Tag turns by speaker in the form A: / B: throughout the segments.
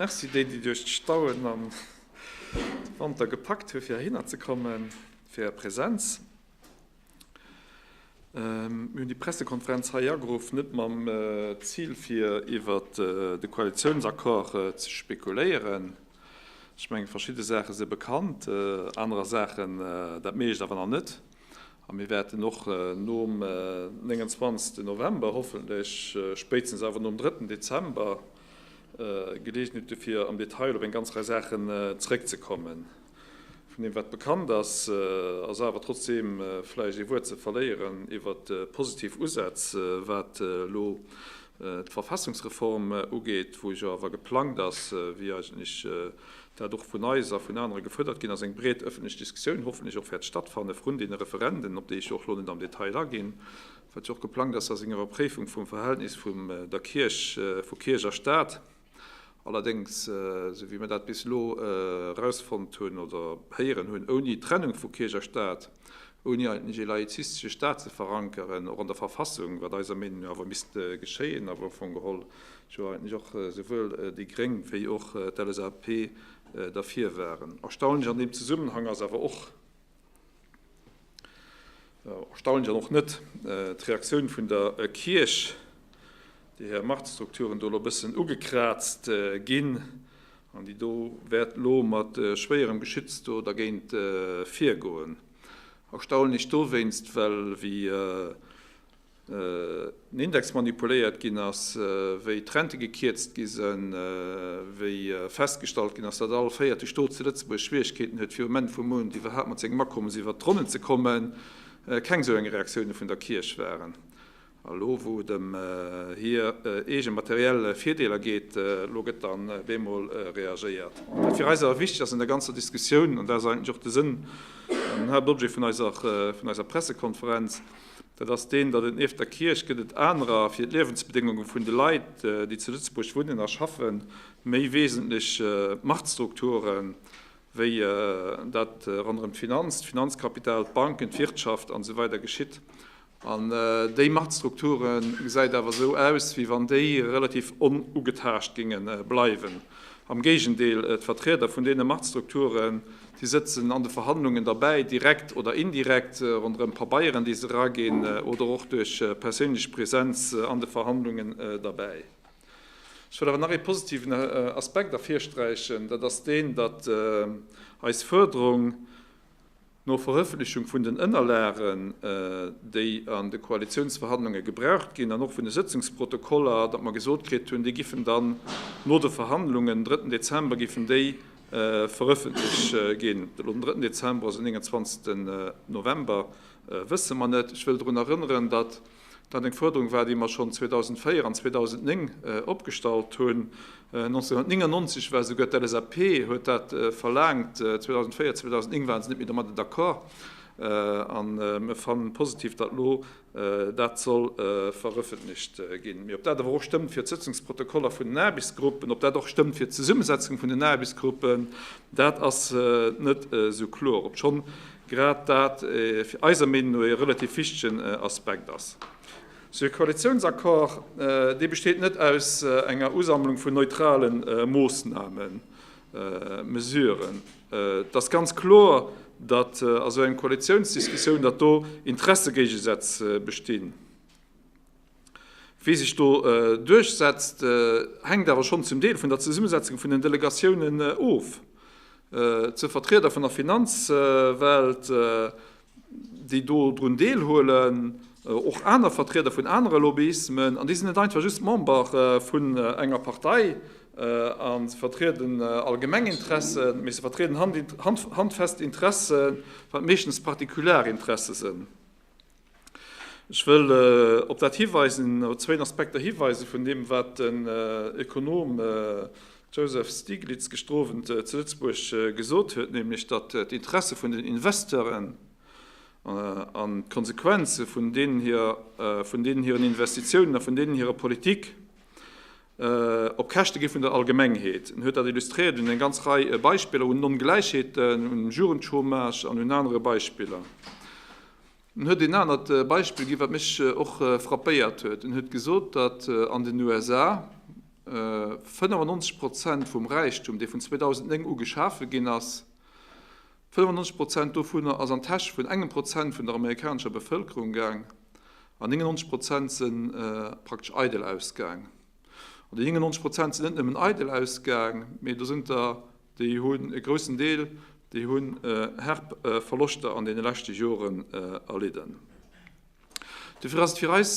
A: Merci déi déi duerch d'Stauen an de Wanter gepackt hu fir heihinner ze kommen, fir är Präsenz. Mir hunn déi Pressekonferenz hei ageruff, net mam Zil fir iwwer de Koalitiounsaccord ze spekuléieren. Ech menge verschidde Saache si bekannt, anerer Saachen, dat mécht awer nach net. A mir wäerten och nom 29 November, hoffentlech spéitstens awer nom 3 Dezember, Geleegenheet gëtt, fir am Detail op eng ganz Rei Saachen zrëckzekommen. Vun deem, wat bekannt ass, ass awer trotzdeem vläicht ee Wuert ze verléieren iwwert d'positiv Usätz, wat elo d'Verfassungsreform ugeet, wou jo awer geplangt ass, wéi eigentlech dat och vun eis a vun anere gefuerdert ginn ass, eng breet ëffentlech Diskussioun hoffentlech och wäert stattfanne vrun deene Referenden, op déi ech jo och elo net am Detail aginn. wat jo och geplangt ass a senger Ëpréifung vum Verhältnis vum der Kierch, vu Kierch a Staat. Allerdéngs, esou wéi mir dat bis elo erausfonnt hunn oder héieren hunn, ouni d'Trennung vu Kierch a Staat, ouni eigentlech ee laizistesche Staat ze verankeren, och an der Verfassung, wat eiser Meenung no awer misst geschéien a wou am Fong geholl jo eigentlech och esouwuel déi Gréng wéi och d'LSAP derfir waren. Erstaunlech an deem Zesummenhang ass awer och, Erstaunlech an och net d'Reaktioun vun der Kierch, déi hir Machtstrukturen do elo e bëssen ugekraazt ginn an déi do wäert elo mat schwéierem Geschütz do dergéint virgoen. Erstaunlech dowéinst, well wéi den Index manipuléiert ginn ass, wéi d'Rente gekierzt gi sinn, wéi festgestallt ginn ass, datt all véierte Stot zu Lëtzebuerg Schwieregkeeten huet, fir um Enn vum Mount iwwerhaapt mat sengem Akommes iwwert d'Ronnen ze kommen, keng esou eng Reaktioune vun der Kierch waren. A lo wou et ëm hir eege materiell Virdeeler geet, lo gëtt dann bemol reagéiert. Wat fir eis awer wichteg ass an der ganzer Diskussioun, an dat ass eigentlech och de Sënn an den Haaptobjet vun eiser Pressekonferenz, Dat ass deen, datt et nieft der Kierch gëtt et anerer, fir d'Liewensbedéngunge vun de Leit, déi zu Lëtzebuerg wunnen a schaffen, méi wesentlech Machtstrukturen, wéi dat ronderëm d'Finanz, d'Finanzkapital, d'Banken, d'Wirtschaft an esou weider geschitt. An déi Machtstrukture gesäit awer esou aus, wéi wann déi relativ onugetaascht géinge bleiwen. Am Géigendeel, d'Vertrieder vun deene Machtstrukturen, Si sëtzen an de Verhandlungen derbäi, direkt oder indirekt, ronderëm Pabeieren, déi se eraginn, oder och duerch perséinlech Präsenz an de Verhandlungen derbäi. Ech wëll awer nach ee positiven Aspekt ervirsträichen, dat ass deen, datt eis Fuerderung no Verëffentlechung vun den Ënnerlagen, déi an de Koalitiounsverhandlunge gebraucht ginn, an och vun de Sëtzungsprotokoller, datt mer gesot kritt hunn, déi giffen dann no de Verhandlungen, den drëtten Dezember giffen déi Verëffentlech ginn. Elo den drëtten Dezember ass en 29 November, wësse mer net. Ech wëll drun erënneren, datt dat eng Fuerderung war, déi mer schonn 2004 an 2009 opgestallt hunn. 1999 war esouguer d'LSAP huet dat verlaangt, 2004, 2009 ware se net méi domadder d'accord. A mir fanne positiv, datt elo Dat soll verëffentlecht ginn. Mee ob dat awer och stëmmt fir d'Sëtzungsprotokoller vun den Aarbechtsgruppen, ob dat och stëmmt fir d'Zesummesetzung vun den Aarbechtsgruppen, dat ass net esou kloer, obschonn grad dat eiser Meenung no ee relativ wichtegen Aspekt ass. Sou ee Koalitiounsaccord, dee besteet net aus enger Usammlung vun neutrale Moossnamen, Mesuren. Et ass ganz kloer, datt a sou engem Koalitiounsdiskussioun, datt do Interessegéigesätz bestinn. Wie sech do duerchsetzt, hänkt awer schonn zum Deel vun der Zesummesetzung vun den Delegatiounen of. D'zwee Vertrieder vun der Finanzwelt, déi do drun deelhuelen, och aner Vertrieder vun anere Lobbyismen, an déi sinn net einfach just Member vun enger Partei a vertrieden allgemeng Interessen, mee se vertrieden handfest Interessen, wat meeschtens particular Interesse sënn. Ech wëll op dat hiweisen, op zwéin Aspekter hiweisen vun deem, wat den Ökonom Joseph Stiglitz gestrowent zu Lëtzebuerg gesot huet, nämlech datt d'Interesse vun den Investeuren an d'Konsequenze vun deenen hiren Investitiounen a vun deenen hirer Politik op Käschte gi vun der Allgemengheet. En huet dat illustréiert un eng ganz Rei Beispiller, un Ongläichheeten, um Jugendchômage an un anere Beispiller. En huet een anert Beispill ginn, wat mech och frappéiert huet. En huet gesot, datt an den USA 95 Prozent vum Räichtum, dee vun 2009 u geschafe ginn ass, 95 Prozent dovunner ass an d'Täsch vun engem Prozent vun der amerikanescher Bevëlkerung gaang an 99 Prozent si praktesch eidel ausgaang. An déi 99 Prozent sinn net nëmmen eidel ausgaang, mee do sinn der Déi hunn e groussen Deel, déi hunn herb Verloschter an deene leschte Joren erlidden. Dofir ass et fir eis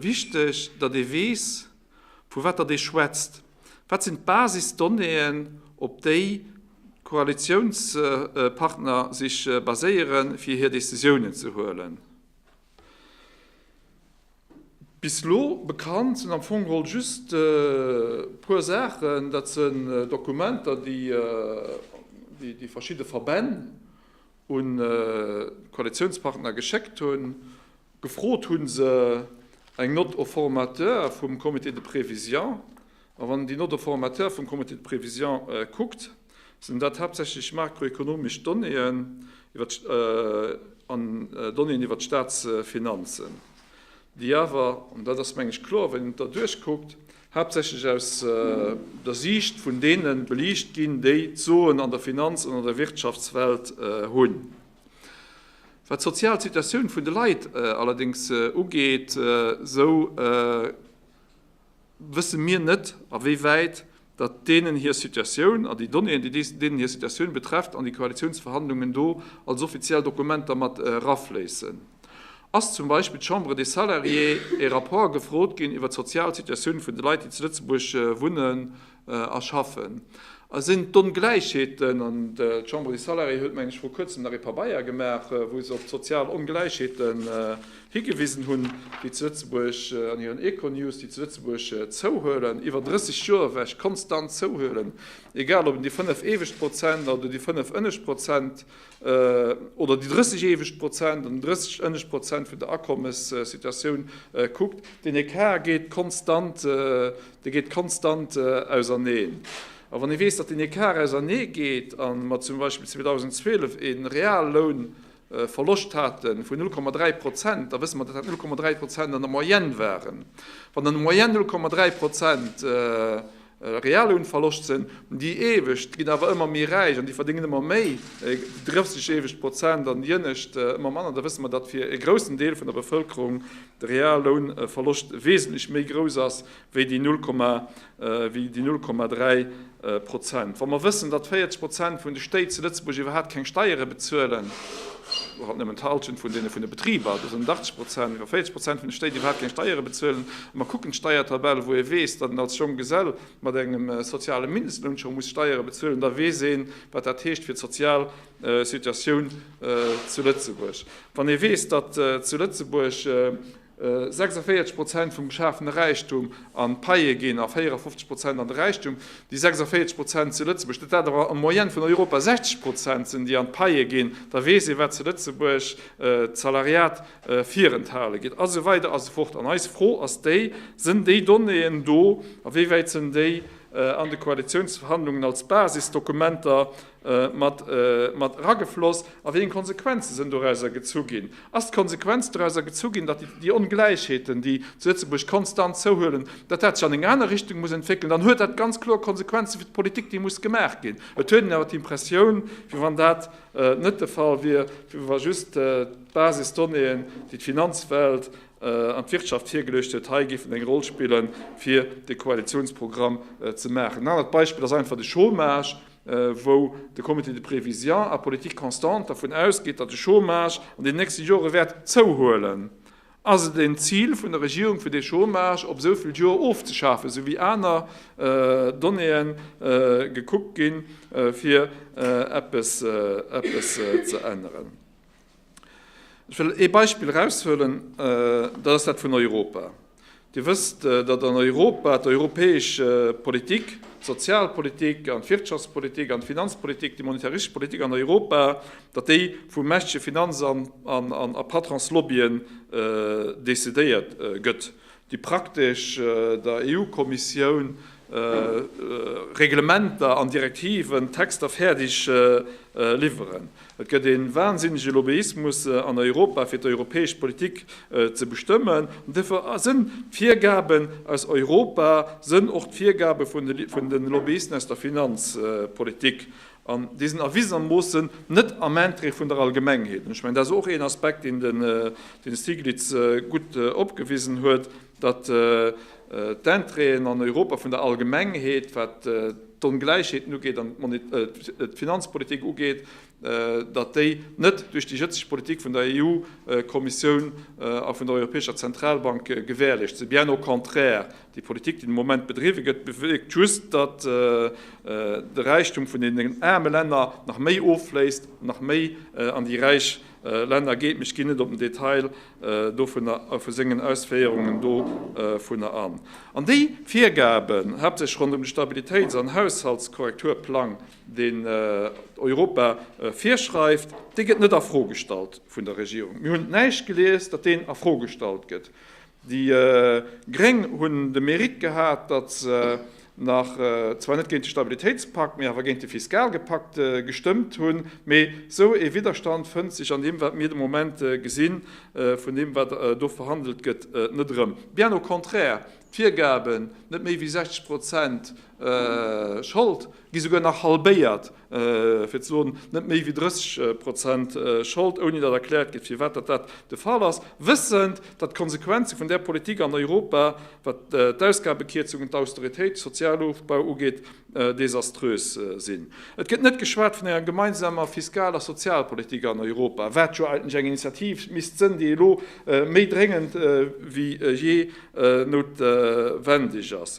A: wichteg, datt ee weess, vu wat datt ee schwätzt. Wat sinn d'Basisdonnéeën, op déi d'Koalitiounspartner sech baséieren, fir hir Decisiounen ze huelen? Bis elo bekannt sinn am Fong geholl just e puer Saachen, dat sinn Dokumenter, déi déi verschidde Verbänn un d'Koalitiounspartner geschéckt hunn. Gefrot hu se eng Note au formateur vum Comité de prévision. A wann een déi Note au formateur vum Comité de prévision kuckt, Sinn dat haaptsächlech makroekonomesch Donnéeën an Donnéeën iwwer d'Staatsfinanzen, déi awer, an dat ass meng ech kloer, wann een et da duerchkuckt, haaptsächlech aus der Siicht vun deene beliicht ginn, déi d'Soen an der Finanz an an der Wirtschaftswelt hunn. Wat d'sozial Situatioun vun de Leit allerdéngs ugeet, esou. wësse mir net, a wéi wäit datt deenen hir Situatioun, a déi Donnéeën, déi deenen hir Situatioun betrefft, an déi Koalitiounsverhandlungen do als offiziell Dokumenter mat erafléissen. Ass zum Beispill d'Chambre des Salariés e Rapport gefrot ginn iwwer d'sozial Situatioun vun de Leit, déi zu Lëtzebuerg wunnen a schaffen? A sinn d'Ongläichheeten, an d'Chambre des Salariés huet, mengen ech, vru Kuerzem nach ee Pabeier gemaach, wou se op d'sozial Ongläichheete Higewisen hunn, déi zu Lëtzebuerg an hiren Econews, déi zu Lëtzebuerg zouhuelen, iwwer 30 Joer ewech konstant zouhuelen, egal ob een déi 5 éiweg Prozent oder déi 5 ënneg Prozent oder déi 30 éiweg Prozent an 30 ënneg Prozent vun der Akommessituatioun kuckt, deen Ecart geet konstant, dee geet konstant auserneen. A wann ee weess, datt deen Ecart ausernee geet a mer zum Beispill 2012 ee Realloun, Verloscht haten vun 0,3 Prozent, da wësse mer, datt dat 0,3 Prozent an der Moyenne waren. Wann an der Moyenne 0,3 Prozent Reallounverloscht sinn, déi Iewescht ginn awer ëmmer méi räich an déi verdéngen ëmmer méi, drëfzeg iewescht Prozent an déi Ënnescht ëmmer manner, da wësse mer, datt fir e groussen Deel vun der Bevëlkerung de Reallounverloscht wesentlech méi grouss ass wéi déi 0,3 wéi déi 0,3 Prozent. Wa mer wëssen, datt 40 Prozent vun de Stéit zu Lëtzebuerg iwwerhaapt keng Steiere bezuelen, oder halt nëmmen d'Halschent vun deene vun de Betriber, dat sinn 80 Prozent, wa 40 Prozent vun de Stéit iwwerhaapt keng Steiere bezuelen, a mer kucken d'Steiertabell, wou ee weess, datt een als jonk Gesell mat engem soziale Mindestloun scho muss Steiere bezuelen, da weess ee wat dat heescht fir d'sozial Situatioun zu Lëtzebuerg. Wann ee weess, datt zu Lëtzebuerg 46 Prozent vum geschafene Räichtum an d'Paie ginn a 54 Prozent an de Räichtum. Déi 46 Prozent zu Lëtzebuerg, dat dat awer en Moyenne vun Europa 60 Prozent sinn, déi an d'Paie ginn, da weess ee wat zu Lëtzebuerg d'Salariat virenthale gëtt a sou weider a sou fort. An eis Fro ass déi, Sënn déi Donnéeën do a wéi wäit sënn déi an de Koalitiounsverhandlungen als Basisdokumenter mat eragefloss a wéi eng Konsequenze sënn dorauser gezu ginn? Ass d'Konsequenz dorauser gezu ginn, datt déi Ongläichheeten, déi zu Lëtzebuerg konstant zouhuelen, datt dat sech an eng aner Richtung muss entwéckelen? Dann huet dat ganz kloer Konsequenze fir d'Politik, déi muss gemaach ginn. Et huet een awer d'Impressioun, wéi wann dat net de Fall wier, wéi wa just d'Basisdonnéeën, déi d'Finanzwelt an d'Wirtschaft virgeluecht huet, hei géifen eng Roll spillen, fir de Koalitionsprogramm ze maachen. En anert Beispill ass einfach de Chômage. wou de Comité de prévision à politique constante dervun ausgeet, datt de Chômage an den nächste Jore wäert zouhuelen. Ass et en Zil vun der Regierung, fir dee Chômage op esou vill Joer ofzeschafen, esou wéi aner Donnéeë gekuckt ginn, fir eppes ze änneren? Ech wëll ee Beispill eraushuelen, dat ass dat vun Europa. Dir wësst, datt an Europa d'europäesch Politik, d'Sozialpolitik an d'Wirtschaftspolitik an d'Finanzpolitik, déi monetarische Politik an Europa, datt déi vu mächtege Finanz a Patronslobbyen decidéiert gëtt. déi praktesch der EU-Kommissioun Reglementer an Direktiven, Texter fäerdeg liwweren. Et gëtt ee wansinnege Lobbyismus an Europa fir d'europäesch Politik ze bestëmmen. An dofir sënn d'Virgaben aus Europa, sënn och d'Virgabe vun de Lobbyisten aus der Finanzpolitik. An déi sinn erwisenermoossen net am Interêt vun der Allgemengheet. An ech mengen, dat ass och een Aspekt, deen de Stiglitz gutt opgewisen huet, datt d'Intérêten an Europa vun der Allgemengheet, wat d'Ongläichheeten ugeet an d'Finanzpolitik ugeet, datt déi net duerch déi jëtzeg Politik vun der EU-Kommissioun a vun der Europäescher Zentralbank gewährleescht sinn, bien au contraire. Déi Politik, déi de Moment bedriwwe gëtt, bewierkt just, datt de Räichtum vun deenen aarme Länner nach méi offléisst, nach méi an déi räich Länner geet. Mee ech ginn net op den Detail dovunner a vu sengen Ausféierungen dovunner an. An déi Virgaben, haaptsächlech ronderëm de Stabilitéits an Haushaltskorrekturplang, deen Europa virschreift, dee gëtt net a Fro gestallt vun der Regierung. Mir hunn näischt gelies, datt deen a Fro gestallt gëtt. Déi Gréng hunn de Mérite gehat, datt se nach zwar net géint de Stabilitéitspakt, mee awer géint de Fiskalgepakt gestëmmt hunn. Mee esou ee Widderstand fënnt sech an deem, wat mir de Moment gesinn, vun deem, wat do verhandelt gëtt, net erëm. Bien au contraire, d'Virgaben, net méi wéi 60 Prozent Schold, gi souguer nach halbéiert. fir ze soen, net méi wéi 30 Prozent Schold, ouni datt erkläert gëtt, firwat datt dat de Fall ass, wëssend, datt d'Konsequenze vun där Politik an Europa, wat d'Ausgabekierzungen, d'Austeritéit, de Sozialofbau ugeet, desaströs sinn. Et gëtt net geschwat vun enger gemeinsamer Fiskal a Sozialpolitik an Europa, wat jo eigentlech eng Initiativ misst sënn, déi elo méi dréngend wéi jee noutwendeg ass.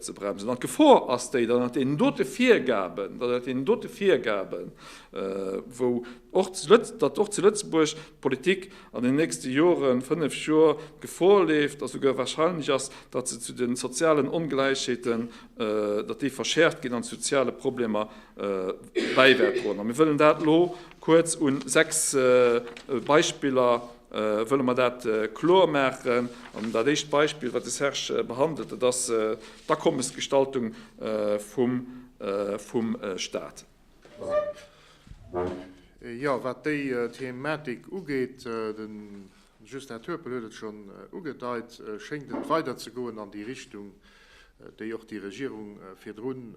A: ze bremsen. An d'Gefor ass déi, datt ënnert deenen dote Virgaben, datt ënnert deenen dote Virgaben, wou och zu Lëtz, datt och zu Lëtzebuerg d'Politik an den nächste Joren, fënnef Jor, Gefor leeft, datt esouguer wahrscheinlech ass, datt se zu de sozialen Ongläichheeten, datt déi verschäerft ginn an zu soziale Problemer bäiwäert droen. A mir wëllen dat elo kuerz u sechs Beispiller. wëlle mer dat kloer maachen. An dat éischt Beispill, wat de Serge behandelt, dat ass d'Akommesgestaltung vum Staat.
B: Jo, wat déi Thematik ugeet, de Justin Turpel huet et schonn ugedeit, schéngt et weiderzegoen an déi Richtung, déi och déi Regierung virdrun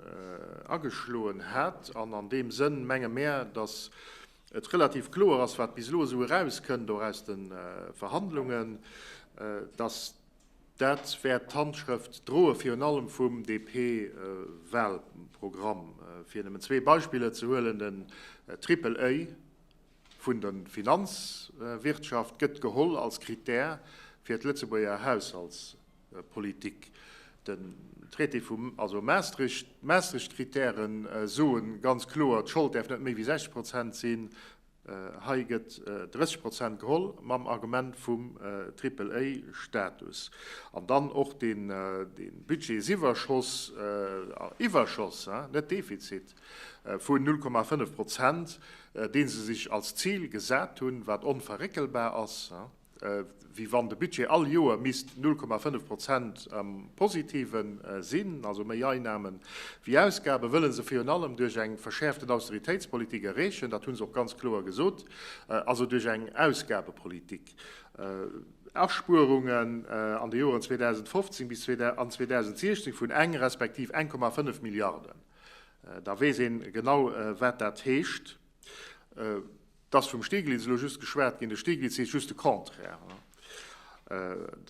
B: ageschloen hat. An an deem Sënn menge mär, datt et relativ kloer ass, wat bis elo esou erauskënnt, och aus de Verhandlungen, dass dat wäert d'Handschrëft droe virun allem vum DP-Wahlprogramm, fir nëmmen zwee Beispiller ze huelen. Den Triple A vun der Finanzwirtschaft gëtt geholl als Krittär fir d'Lëtzebuerger Haushaltspolitik. Politik. Den Traité vu, also Maastricht, d'Maastricht-Kritäre soe ganz kloer, d'Schold däerf net méi wéi 60 Prozent sinn. Hei gëtt 30 Prozent geholl mam Argument vum Triple-A-Status. An dann och de Budgetsiwwerschoss, Iwwerschoss, net Defizit, vu 0,5 Prozent, dee se sech als Zil gesat hunn, wat onverréckelbar ass. wéi wann de Budget all Joer misst 0,5 Prozent am Positive sinn, also méi Einnamen wéi Ausgaben, wëlle se virun allem duerch eng verschäerften Austeritéitspolitik erreechen, dat hu se och ganz kloer gesot, also duerch eng Ausgabepolitik. Aspuerungen an de Joren 2015 bis an 2016 vun eng respektiv 1,5 Milliarden, da weess ee genau, wat dat heescht. 't ass vum Stieglitz elo just geschwat ginn. De Stieglitz heescht just de Contraire.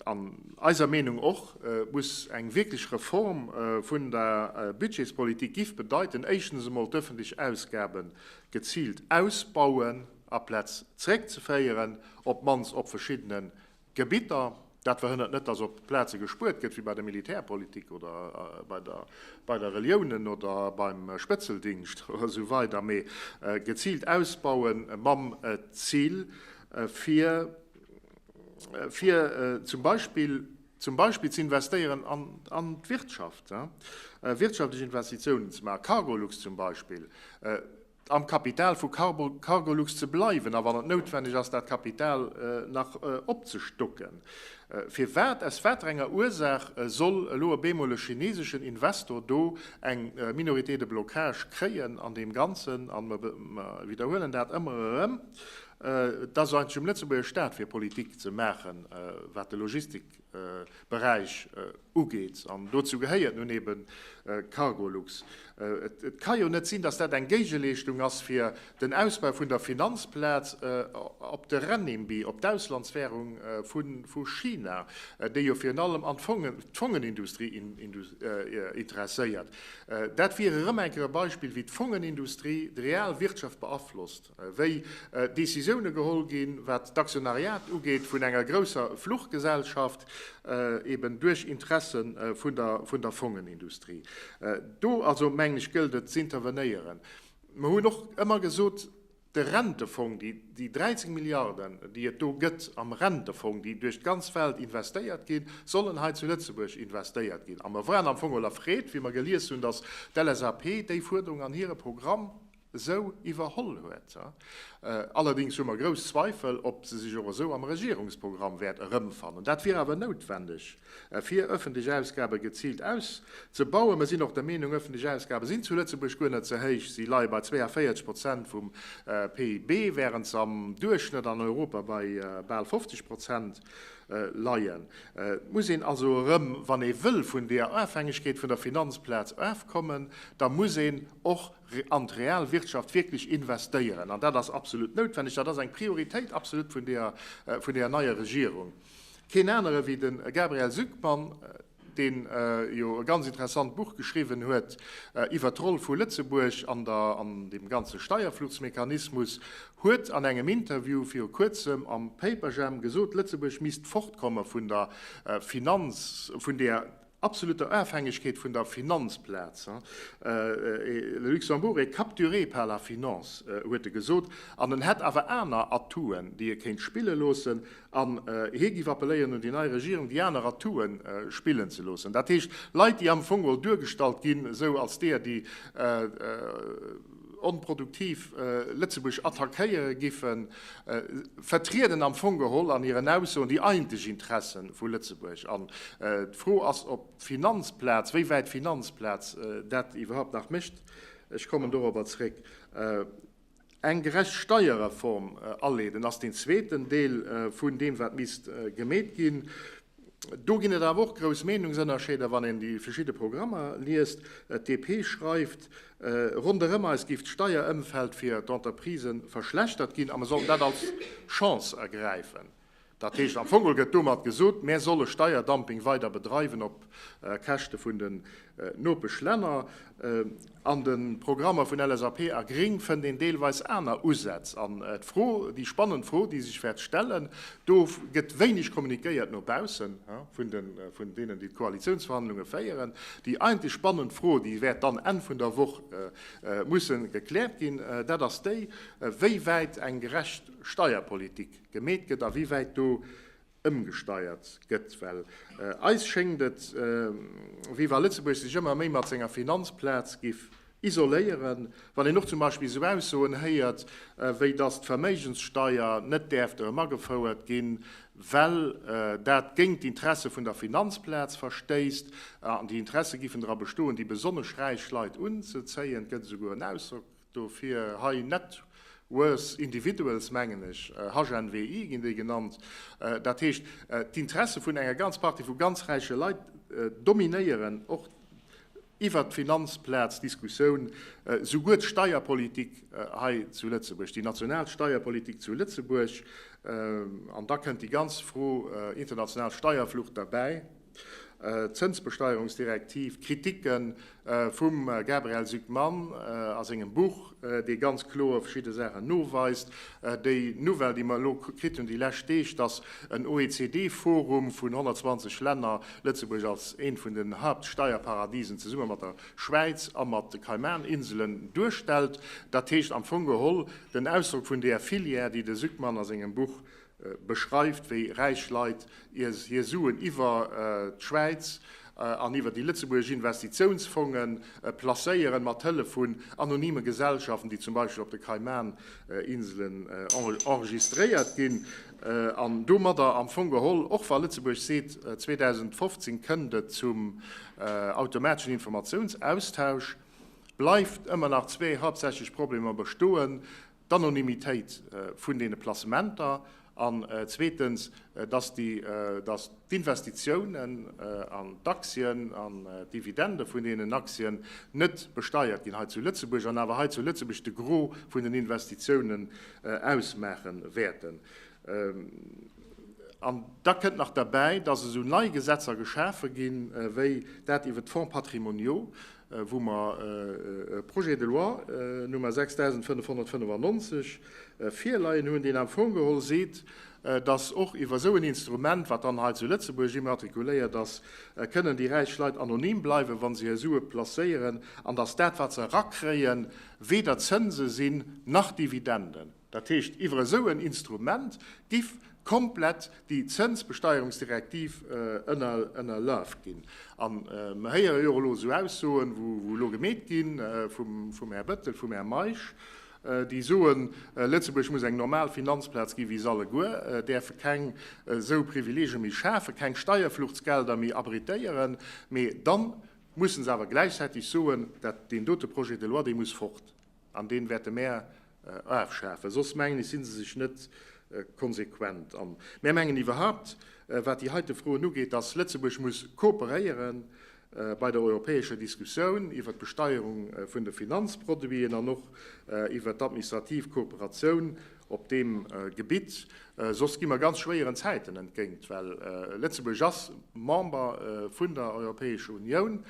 B: An eiser Meenung och muss eng wierklech Reform vun der Budgetspolitik giff bedeiten, éischtens emol d'öffentlech Ausgabe geziilt ausbauen, aplaz zréckzeféieren, op d'mannst op verschiddenen Gebitter. Dat verhënnert net, dass op Plaze gespuert gëtt, wéi bei der Militärpolitik oder bei der Reliounen oder beim Spëtzeldingscht oder esou weider, mee geziilt ausbaue mam Zil, fir zum Beispill zum Beispill ze investéieren an d'Wirtschaft, wirtschaftlech Investitiounen ze maachen, Cargolux zum Beispill. am Kapital vu Cargolux ze bleiwen a wann et noutwenneg ass dat Kapital nach opzestocken. Firwat, aus wat fir enger Ursaach soll elo op eemol e chineseschen Investor do eng Minorité de blocage kréien an deem Ganzen? A mer widderhuelen dat ëmmer erëm, et ass jo eigentlech um Lëtzebuerger Staat fir Politik ze maachen wat de Logistik, Beräich ugeet. An dozou gehéiert nun eben Cargolux. Et ka jo net sinn, datt dat eng Géigeleeschtung ass fir den Ausbau vun der Finanzplaz op de Renminbi, op d'Auslandswährung vu China, déi jo virun allem an d'Fongenindustrie interesséiert. Dat wier erëm eng Kéier e Beispill, wéi d'Fongenindustrie d'real Wirtschaft beaflosst. wéi Decisioune geholl ginn, wat d'Aktionariat ugeet vun enger grousser Fluchgesellschaft, eben duerch Interesse vun der Fongenindustrie. Do also, mengen ech, gëllt et z'intervenéieren. Mer hunn och ëmmer gesot, de Rentefong, déi 13 Milliarden, déi et do gëtt am Rentefong, déi duerch d'ganz Welt investéiert ginn, sollen hei zu Lëtzebuerg investéiert ginn. A mer waren am Fong och erfreet, wéi mer gelies hunn, datt d'LSAP déi Fuerderung an hire Programm, esou iwwerholl huet. Allerdings hu mer grouss Zweifel, ob se sech och esou am Regierungsprogramm wäert erëmfannen. Dat wier awer noutwendeg, fir öffentlech Ausgabe geziilt auszebauen. Mer sinn och der Meenung, öffentlech Ausgabe sinn zu Lëtzebuerg guer net ze héich. Si leie bei 42 Prozent vum PIB, wärend se am Duerchschnëtt an Europa bei bal 50 Prozent leien. Et muss een also erëm, wann ee wëll vun deer Ofhängegkeet vun der Finanzplaz ofkommen, da muss een och an d'real Wirtschaft wierklech investéieren, an dat ass absolut noutwendeg, dat ass eng Prioritéit absolut vun deeër, vun deeër neier Regierung. Keen anere wéi de Gabriel Zucman, deen jo e ganz interessant Buch geschriwwen huet iwwert d'Roll vu Lëtzebuerg an der, an deem ganze Steierfluchsmechanismus, huet an engem Interview viru kuerzem am Paperjam gesot, Lëtzebuerg misst fortkomme vun der Finanz, vun deeër absoluter Ofhängegkeet vun der Finanzplaz, le Luxembourg est capturé par la finance, huet e gesot. An en hätt awer aner Atouen, déi e kéint spille loossen. An hie géif appelléieren un déi nei Regierung, déi aner Atoue spillen ze loossen, dat heescht Leit, déi am Fong mol duergestallt ginn, esou als deeër, déi, onproduktiv Lëtzebuerg attackéiere giffen, vertrieden am Fong geholl an hiren Aussoen déi eigentlech Interesse vu Lëtzebuerg. An d'Fro ass, ob d'Finanzplaz, wéi wäit d'Finanzplaz dat iwwerhaupt nach mécht, ech kommen dorobber zréck, eng gerecht Steierreform aleeden, ass deen zweeten Deel vun deem, wat misst gemeet ginn. Do ginn et awer och grouss Meenungsënnerscheeder, wann een déi verschidde Programmer liest. D'DP schreift, ronderëm eis géif d'Steierëmfeld fir d'Entreprisë verschlechtert ginn a mer sollen dat als Chance ergräifen. Dat heescht am Fong gëtt domat gesot, mär solle Steierdumping weider bedreiwen op Käschte vun den Nopeschlänner. An de Programmer vun LSAP a Gréng fënnt een deelweis aner Usätz. An d'Fro, déi spannend Fro, déi sech wäert stellen, do gëtt wéineg kommunikéiert no baussen vun deenen, déi d'Koalitiounsverhandlunge féieren, déi eigentlech spannend Fro, déi wäert dann Enn vun der Woch musse gekläert ginn, dat ass déi, wéi wäit eng gerecht Steierpolitik gemeet gëtt a wéi wäit do ëmgesteiert gëtt, well eis schéngt et wéi wa Lëtzebuerg sech ëmmer méi mat senger Finanzplaz giff isoléieren, wann een och zum Beispill esou Aussoen héiert, wéi datt d'Verméigenssteuer net däerft erëm agefouert ginn, well dat géint d'Interesse vun der Finanzplaz verstéisst, an déi Interesse giffen dra bestoen, déi besonnesch räich Leit unzezéien. Et gëtt esouguer en Ausdrock. Dofir hei net worse individuals, mengen ech, HNWI ginn déi genannt. Dat heescht, d'Interesse vun enger ganz Partie vu ganz räiche Leit dominéieren och iwwert d'Finanzplaz d'Diskussioun, souguer d'Steierpolitik hei zu Lëtzebuerg, déi national Steierpolitik zu Lëtzebuerg. An da kënnt déi ganz Fro international Steierflucht derbäi. Zënsbesteierungsdirektiv, Kriticke vum Gabriel Zucman a sengem Buch, dee ganz kloer verschidde Saachen noweist. Déi Nouvelle, déi mer elo kritt hunn déi lescht Deeg, dass en OECD-Forum vun 120 Länner Lëtzebuerg als eent vun den Haaptsteierparadisen zesumme mat der Schwäiz a mat de Kaiman-Inselen duerstellt, dat heescht am Fong geholl den Ausdrock vun deer Filière, déi de Zucman a sengem Buch beschreift, wéi räich Leit hir Suen iwwer d'Schwäiz an iwwer déi lëtzebuergesch Investitiounsfonge placéieren, mat Hëllef vun anonyme Gesellschaften, déi zum Beispill op de Kaiman-Inselen enregistréiert ginn. An domadder am Fong geholl, och wa Lëtzebuerg seet, 2015 kënnt et zum automateschen Informatiounsaustausch, bleift ëmmer nach zwee haaptsächlech Problemer bestoen, d'Anonymitéit vun deene Placementer an zweetens, dass d'Investitiounen an d'Aktien an d'Dividende vun deenen Aktien net besteiert ginn hei zu Lëtzebuerg an awer hei zu Lëtzebuerg de Gros vun den Investitiounen ausmaache wäerten. An da kënnt nach derbäi, dass esou nei Gesetzer geschafe ginn, wéi dat iwwert d'Fonds patrimoniaux, wou mer e Projet de loi Nummer 6595 virleien hunn, deen am Fong geholl seet, dass och iwwer esou en Instrument, wat dann hei zu Lëtzebuerg immatrikuléiert ass, kënnen déi räich Leit anonym bleiwen, wa se hir Sue placéieren, an dass dat, wat se erakréien, weder Zënse sinn nach Dividenden. Dat heescht, iwwer esou en Instrument giff komplett déi Zënsbesteierungsdirektiv ënnerlafe ginn. A mer héiere jo och elo esou Aussoen, wou elo gemeet ginn, vum Här Bettel, vum Här Meisch, déi soen, Lëtzebuerg muss eng normal Finanzplaz gi wéi se alleguer, däerfe keng esou Privileegie méi schafen, keng Steierfluchtsgelder méi abritéieren. Mee dann musse se awer gläichzäiteg soen, dat deen dote Projet de loi, dee muss fort. An deen wäerte mär afschafen. Soss mengen ech, sinn se sech net konsequent. An mär mengen iwwerhaupt, wat déi heite Froen ugeet, dass Lëtzebuerg muss kooperéiere bei der europäescher Diskussioun iwwert d'Besteierung vun de Finanzproduiten an och iwwert d'administrativ Kooperatioun op deem Gebitt. Soss gi mer ganz schwéieren Zäiten entgéint, well Lëtzebuerg ass Member vun der Europäescher Unioun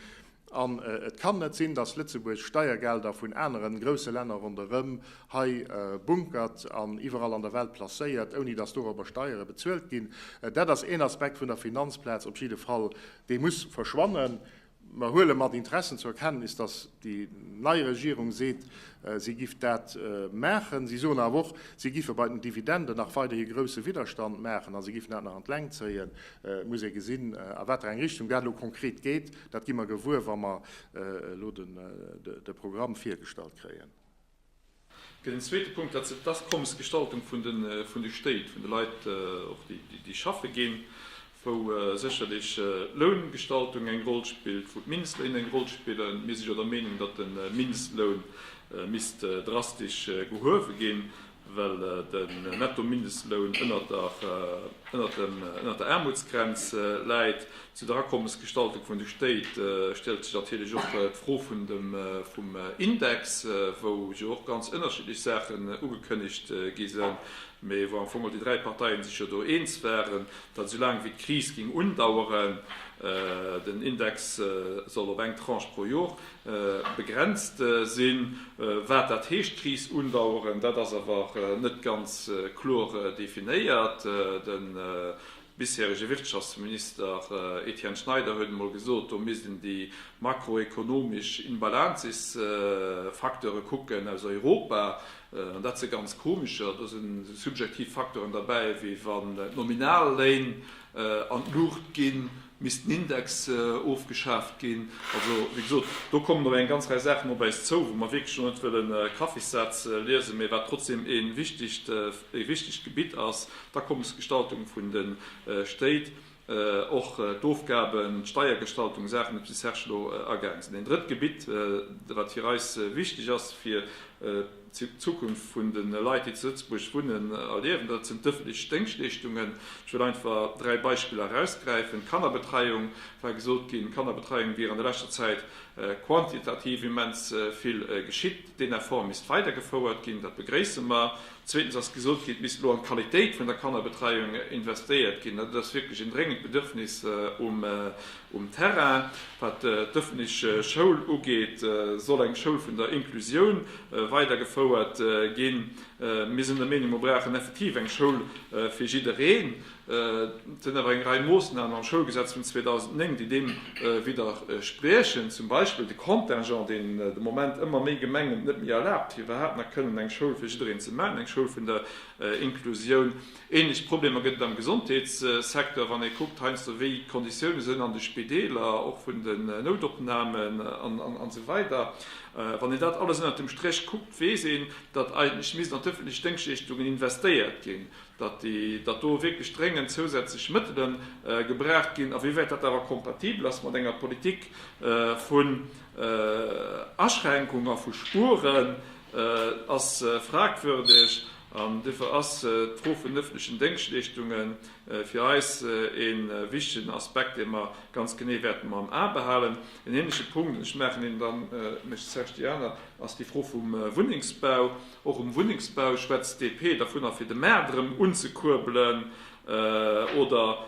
B: An et kann net sinn, dass Lëtzebuerg Steiergelder vun aneren grousse Länner ronderëm hei bunkert an iwwerall an der Welt placéiert, ouni dass dorobber Steiere bezuelt ginn. Dat ass een Aspekt vun der Finanzplaz op jidde Fall, dee muss verschwannen. Mer huele mat Interessen zur Kenntnis, dass déi nei Regierung seet, si giff dat maachen. Si soen awer och, si giffe bei den Dividenden nach weiderhi grousse Widderstand maachen a si giffen dat nach an d'Längt zéien. Et muss ee gesinn, a wat fir eng Richtung dat elo konkret geet. Dat gi mer gewuer, wa mer elo de Programm virgestallt kréien.
A: Den zweete Punkt, dat ass d'Akommesgestaltung vun de Stéit, vun de Leit, och déi schaffe ginn, wou sécherlech d'Loungestaltung eng Roll spillt, wou d'Mindestléiner eng Roll spillen. Mir si jo der Meenung, datt de Mindestloun misst drastesch gehuewe ginn. well den Netto-Mindestloun ënnert der Aarmutsgrenz läit. Zu der Akommesgestaltung vun de Stéit stellt sech natierlech och d'Fro vum Index, wou jo och ganz ënnerschiddlech Saachen ugekënnegt gi sinn, mee wou am Fong och déi dräi Parteien sech jo do eens waren, datt esou laang wéi d'Kris géing undaueren, den Index soll op eng Tranche pro Jor. Begrenzt sinn. Wat dat heescht, d'Kris undaueren, dat ass awer net ganz kloer definéiert. De bisherege Wirtschaftsminister Etienne Schneider huet emol gesot, do misst een déi makroekonomesch Imbalanzesfacteure kucken aus Europa. An dat si ganz komescher, do si subjektiv Facteuren derbäi, wéi wann d'Nominalléin an d'Luucht ginn, Misst den Index ofgeschaaft ginn? Also, wéi gesot, do kommen nach eng ganz Rei Saachen op äis zou, wou mer wierklech elo net wëllen Kaffissätz liesen, mä wat trotzdeem ee wichtegt, ee wichtegt Gebitt ass, d'Akommesgestaltung vun de Stéit, och d'Ofgaben, d'Steiergestaltung, Saachen, op déi de Serge elo agaangen ass. An en drëtt Gebitt, wat fir eis wichteg ass, fir, D'Zukunft vun de Leit, déi zu Lëtzebuerg wunnen a liewen, dat sinn d'ëffentlech Déngschleeschtungen. Ech wëll einfach dräi Beispiller erausgräifen. D'Kannerbetreiung, war gesot ginn, d'Kannerbetreiung wier an der leschter Zäit quantitativ immens vill geschitt. Deen Effort misst weidergefouert ginn. Dat begréisse mer. Zweetens ass gesot ginn, et misst elo an d'Qualitéit vun der Kannerbetreiung investéiert ginn. Dat ass wierklech en dréngend Bedürfnis um Um Terrain, wat d'ëffentlech Schoul ugeet, soll eng Schoul vun der Inclusioun weidergefouert ginn. Mir sinn der Meenung, mir brauchen effektiv eng Schoul fir jiddereen. Et sinn awer eng Rei Moossnamen am Schoulgesetz vun 2009, déi deem widderspriechen, zum Beispill de Contingent, deen de Moment ëmmer méi Gemengen et net méi erlaabt, fir iwwerhaapt nach kënnen eng Schoul fir jiddereen ze maachen, eng Schoul vun der Inclusioun. Ähnlech Problemer gëtt et am Gesondheetssecteur, wann ee kuckt heiansdo wéi d'Konditioune sinn an de Spideeler, och vun den Noutopnamen an esou weider. Wann een dat alles ënnert dem Stréch kuckt, weess een, datt eigentlech misst an d'ëffentlech Déngschleeschtungen investéiert ginn, datt do wierklech dréngend zousätzlech Mëttele gebraucht ginn. A wéi wäit dat awer kompatibel ass mat enger Politik vun Aschränkung a vu Spueren, ass fragwürdeg an dofir ass d'Fro vun öffentlechen Déngschtleeschtunge fir eis ee wichtegen Aspekt, dee mer ganz genee wäerten no am A behalen. En ähnleche Punkt, ech maachen een dann, mécht d'Serge déi aner, ass déi Fro vum Wunnengsbau. Och um Wunnengsbau schwätzt d'DP dovunner, fir de Maart erëm unzekuerbelen. Oder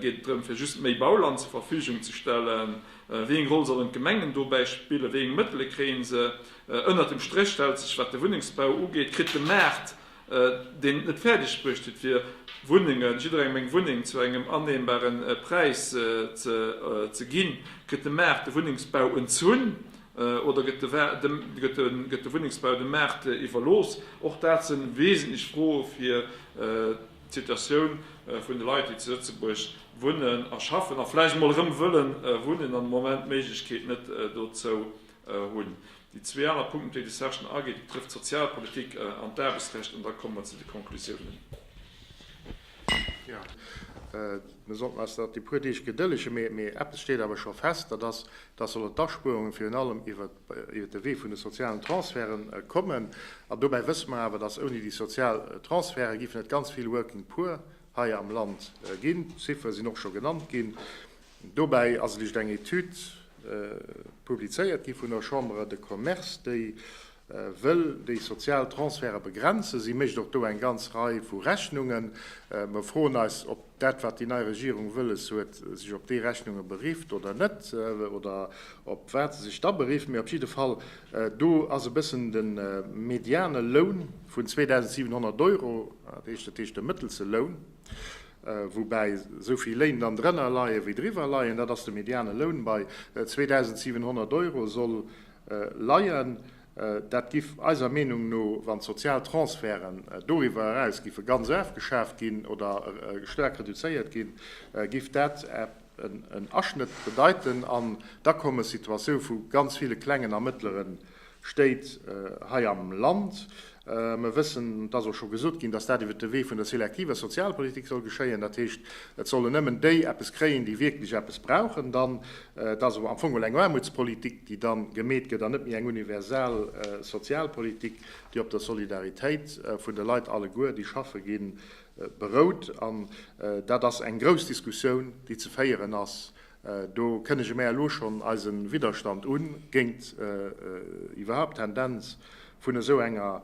A: geet et drëm, fir just méi Bauland zur Verfügung ze stellen? Wéi eng Roll sollen d'Gemengen dobäi spillen? Wéi eng Mëttele kréie se? Ënnert dem Stréch stellt sech, wat de Wunnengsbau ugeet, kritt de Maart, deen et net fäerdeg bruecht huet fir Wunnengen, jidderengem eng Wunneng zu engem annehmbare Präis ze ginn, kritt de Maart de Wunnengsbau entzunn oder gëtt de Wunnengsbau dem Maart iwwerlooss? Och dat si wesentlech Froe fir d'Situatioun vun de Leit, déi zu Lëtzebuerg wunnen a schaffen a vläicht emol erëm wëlle wunnen an de Moment d'Méiglechkeet net dozou hunn. Déi zwee aner Punkten, op déi de Serge dann ageet, dat betrëfft d'Sozialpolitik an d'Aarbechtsrecht, an da komme mer zu de Konklusiounen.
B: Mir sollten eis nach déi puer Deeg gedëllegen, mee eppes steet awer scho fest, dat ass, dass solle d'Aspuerungen virun allem iwwert de Wee vun de sozialen Transferte kommen. An dobäi wësse mer awer, dass ouni déi sozial Transferte géifen et ganz vill Working Poor hei am Land ginn. D'Ziffere sinn och scho genannt ginn. Dobäi ass just eng Etüd publizéiert gi vun der Chambre de Commerce, déi wëll déi sozial Transferte begrenzen. Si mécht och do eng ganz Rei vu Rechnungen. Mer froen eis, ob dat, wat déi nei Regierung wëlles huet, sech op déi Rechnunge berifft oder net, oder op wat se sech da berifft. Mee op jidde Fall, do ass e bëssen de mediane Loun vun 2.700 Euro, dat heescht de mëttelse Loun, woubäi esou vill Léin dann drënner leien, wéi driwwer leien, dat ass de mediane Loun, bei 2.700 Euro soll leien. Dat giff eiser Meenung no, wann d'sozial Transferten doriwwer eraus giffe ganz ofgeschaaft ginn oder staark reduzéiert ginn, giff dat en Aschnëtt bedeiten an d'Akommessituatioun vu ganz ville klengen a mëttlere Stéit hei am Land. Mir wëssen, et ass och scho gesot ginn, dass dat iwwert de Wee vun der selektiver Sozialpolitik soll geschéien. Dat heescht, et sollen nëmmen déi eppes kréien, déi wierklech eppes brauchen. Dann, et ass am Fong mol eng Aarmutspolitik, déi da gemeet gëtt, an net méi eng universal Sozialpolitik, déi op der Solidaritéit vun de Leit alleguer, déi schaffe ginn, berout. An dat ass eng grouss Diskussioun, déi ze féieren ass. Do kënnege mär elo schonn eise Widderstand un géint iwwerhaapt d'Tendenz vun esou enger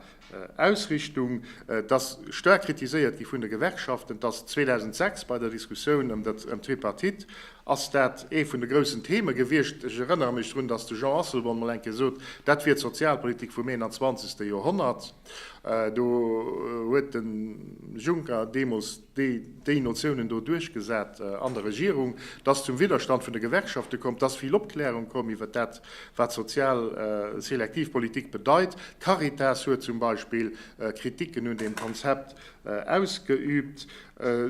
B: Ausrichtung. Et ass staark kritiséiert gi vun de Gewerkschaften. Et ass 2006 bei der Diskussioun ëm d'Tripartite ass dat ee vun de groussen Theme gewiescht. Ech erënnere mech drun, datt de Jean Asselborn mol eng Kéier sot, dat wier d'Sozialpolitik vum 21. Joerhonnert. Do huet de Juncker deemools. déi déi Notiounen do duerchgesat an der Regierung, dass zum Widderstand vun de Gewerkschafte koum, dass vill Opklärung koum iwwert dat, wat sozial selektiv Politik bedeit. D'Caritas huet zum Beispill Kritiken un deem Konzept ausgeübt,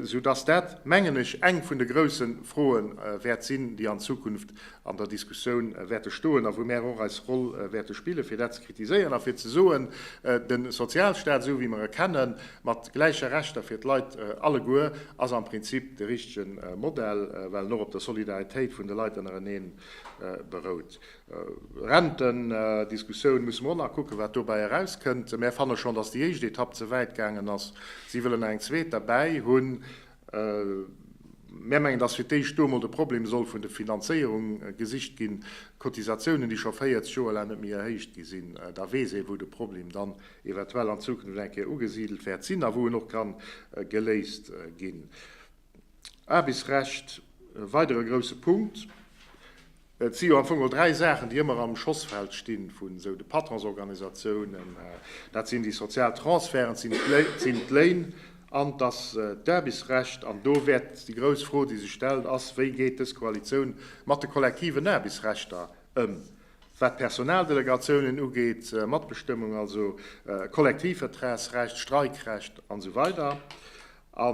B: soudass dat, mengen ech, eng vun de grousse Froe wäert sinn, déi an Zukunft an der Diskussioun wäerte stoen a wou mär och eis Roll wäerte spillen, fir dat ze kritiséieren a fir ze soen, de Sozialstaat, esou wéi mer e kennen, mat gläiche Rechter fir d'Leit alleguer, ass am Prinzip de richtige Modell, well en och op der Solidaritéit vun de Leit ënnerenee berout. Rentendiskussioun, musse mer och nach kucken, wat dobäi erauskënnt. Mär fanne schonn, datt déi éischt Etapp ze wäit gaangen ass. Si wëllen nach eng zweet derbäi hunn. Mär mengen, dass fir d'éischt do emol de Problem soll vun de Finanzéierung gesicht ginn. Cotisatiounen, déi scho 40 Joer laang net méi erhéicht gi sinn, da weess ee wou de Problem dann eventuell an Zukunft eng Kéier ugesidelt wäert sinn a wou en och kann geléist ginn. Aarbechtsrecht, e weidere grousse Punkt. Et si jo am Fong och dräi Saachen, déi ëmmer am Schossfeld stinn vun esou de Patronsorganisatiounen. Dat sinn déi sozial Transferten, et sinn d'Léin an et ass d'Aarbechtsrecht. An do wäert déi grouss Fro, déi sech stellt, ass, Wéi geet dës Koalitioun mat de kollektiven Aarbechtsrechter ëm, wat d'Personaldelegatioune ugeet, Matbestëmmung, also Kollektivvertragsrecht, Streikrecht, an esou weider. A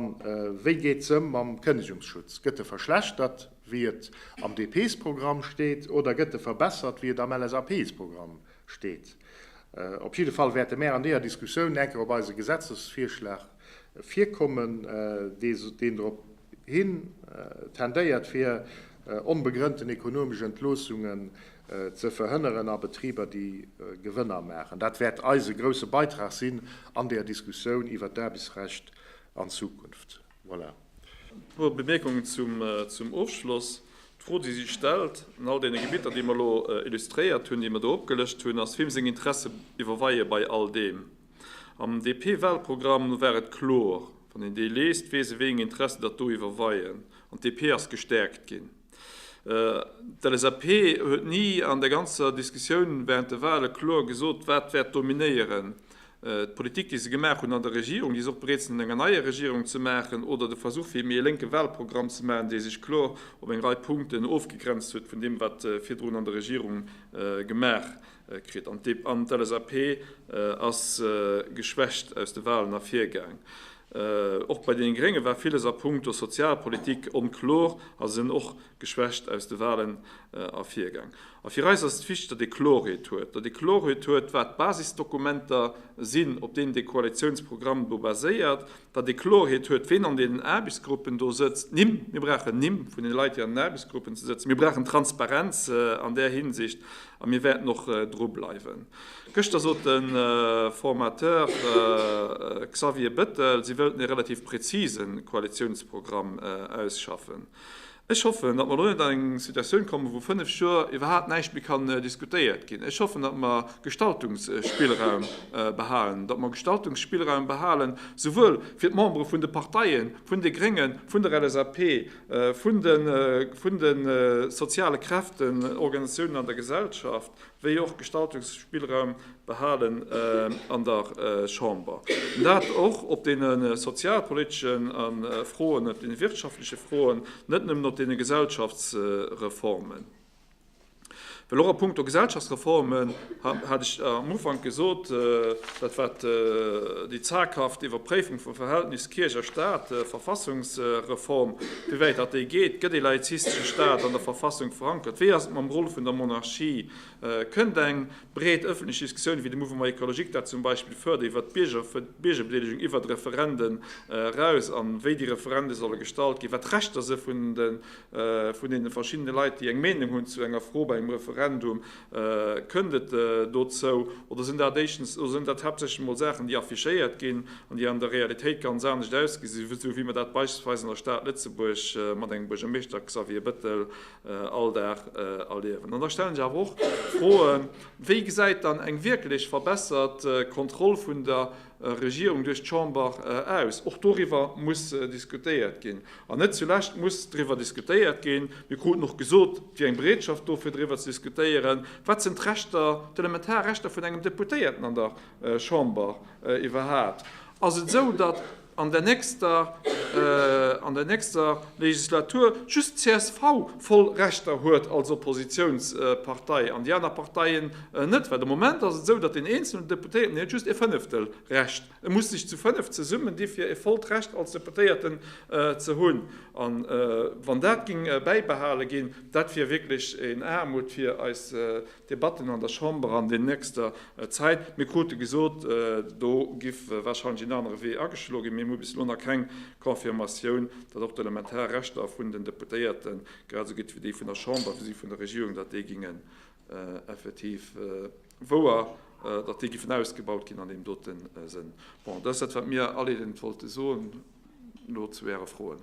B: wéi geet se ëm mam Kënnegungsschutz? Gëtt e verschlechtert, wéi et am DP-sProgramm steet, oder gëtt e verbessert, wéi et am LSAP-sProgramm steet? Op jidde Fall wäerte mär an deeër Diskussioun enker op eise Gesetzesvirschlag virkommen, deen drop hin tendéiert, fir onbegrënnten ekonomesch Entloossunge ze verhënneren a Betriber, déi Gewënner maachen. Dat wäert eise grousse Beitrag sinn an der Diskussioun iwwert d'Aarbechtsrecht an Zukunft. Voilà. E puer Bemierkungen
A: zum Ofschloss. D'Fro, déi sech stellt, an all deene Gebitter, déi mer elo illustréiert hunn, déi mer do opgelëscht hunn, ass, Wiem seng Interesse iwwerweie bei all deem? Am DP-Wahlprogramm war et kloer, Wann een dee liest, weess ee, wéi eng Interesse datt do iwwerweien. An d'DP ass gestäerkt ginn. D'LSAP huet ni an der ganzer Diskussioun während de Wahle kloer gesot, wat wäert dominéieren, d'Politik, déi se gemaach hunn an der Regierung, déi se och bereet sinn an enger neier Regierung ze maachen, oder de Versuch fir méi e lénke Wahlprogramm ze maachen, dee sech kloer op eng Rei Punkten ofgegrenzt huet vun deem, wat virdrun an der Regierung gemaach kritt an d'LSAP ass geschwächt aus de Walen ervirgaang. Och bei deene Grénge war villes a punkto Sozialpolitik onkloer a sinn och geschwächt aus de Walen ervirgaang. A fir eis ass et wichteg, datt ee Klorheet huet, datt ee Klorheet huet, wat d'Basisdokumenter sinn, op deenen dee Koalitiounsprogramm do baséiert, datt ee Klorheet huet, ween an deenen Aarbechtsgruppen do sëtzt, Nimm, mir brauchen Nimm vun den Leit, déi an den Aarbechtsgruppen ze sëtzen. Mir brauchen Transparenz an där Hinsicht a mir wäerten och dru bleiwen. Gëschter sot de Formateur Xavier Bettel, si wëllten ee relativ präzise Koalitiounsprogramm ausschaffen. Ech hoffen, datt mer elo net an eng Situatioun kommen, wou fënnf Joer iwwerhaapt näischt méi kann diskutéiert ginn. Ech hoffen, datt mer Gestaltungsspillraum behalen, datt mer Gestaltungsspillraum behalen, souwuel fir d'Membere vun de Parteien, vun de Gréngen, vun der LSAP, vun de soziale Kräften, Organisatiounen an der Gesellschaft, wéi och Gestaltungsspillraum behalen an der Chamber, dat och op deene sozialpoliteschen Froen, op deene wirtschaftleche Froen, net nëmmen op deene Gesellschaftsreformen. Well och a punkto Gesellschaftsreformen hat ech am Ufank gesot, dat war déi zaghaft Iwwerpréifung vum Verhältnis Kierch a Stat, Verfassungsreform, Wéi wäit dat de geet? Gëtt ee laizistesche Staat an der Verfassung verankert? Wéi ass et mam Roll vun der Monarchie? Kënnt eng breet ëffentlech Diskussioun, wéi de Mouvement Ecologique dat zum Beispill fërdert, iwwer d'Biergerbedeelegung iwwer d'Referende raus a wéi déi Referende solle gestalt ginn, wat d'Rechter si vun deene verschiddene Leit, déi eng Meenung hunn zu enger Fro bei engem Referendum? Kënnt et dozou oder sinn dat éischtens, oder sinn dat haaptsächlech emol Saachen, déi affichéiert ginn an déi an der Realitéit ganz anescht ausgesinn, esou wéi mer dat beispillsweis an der Stad Lëtzebuerg mat engem Buergermeeschter Xavier Bettel all Dag erliewen? An da stellen ech awer och d'Froe, Wéi gesäit dann eng wierklech verbessert Kontroll vun der Regierung duerch d'Chamber aus. Och doriwwer muss diskutéiert ginn. An net zulescht muss driwwer diskutéiert ginn, mir kruten och gesot, et wier eng Bereetschaft do fir driwwer ze diskutéieren, wat sinn d'Rechter, d'elementar Rechter vun engem Deputéierten an der Chamber iwwerhaapt. Ass et esou, datt an der nächster, an der nächster Legislatur just d'CSV voll Rechter huet als Oppositionspartei an déi aner Parteien Net, well de Moment ass et esou, datt deen eenzelnen Deputéierten, deen huet just ee Fënneftel Recht, e muss sech zu fënnef zesummen di fir e vollt Recht als Deputéierten ze hunn. A wann dat géing bäibehale ginn, dat wier wierklech een Aarmut fir eis Debatten an der Chamber an den nächster Zäit. Mir krute gesot, do giff warscheinlech een anere Wee ageschlo ginn, mee mir hu bis elo nach keng Confirmatioun, datt och d'elementar Rechter vun den Deputéierte, grad esou gutt wéi déi vun der Chamber wéi si vun der Regierung, datt déi géinge effektiv wouer, datt déi giffen ausgebaut ginn an deem dote Sënn. Bon, dat ass dat, wat mir all eent wollte soen elo zu Äre Froen.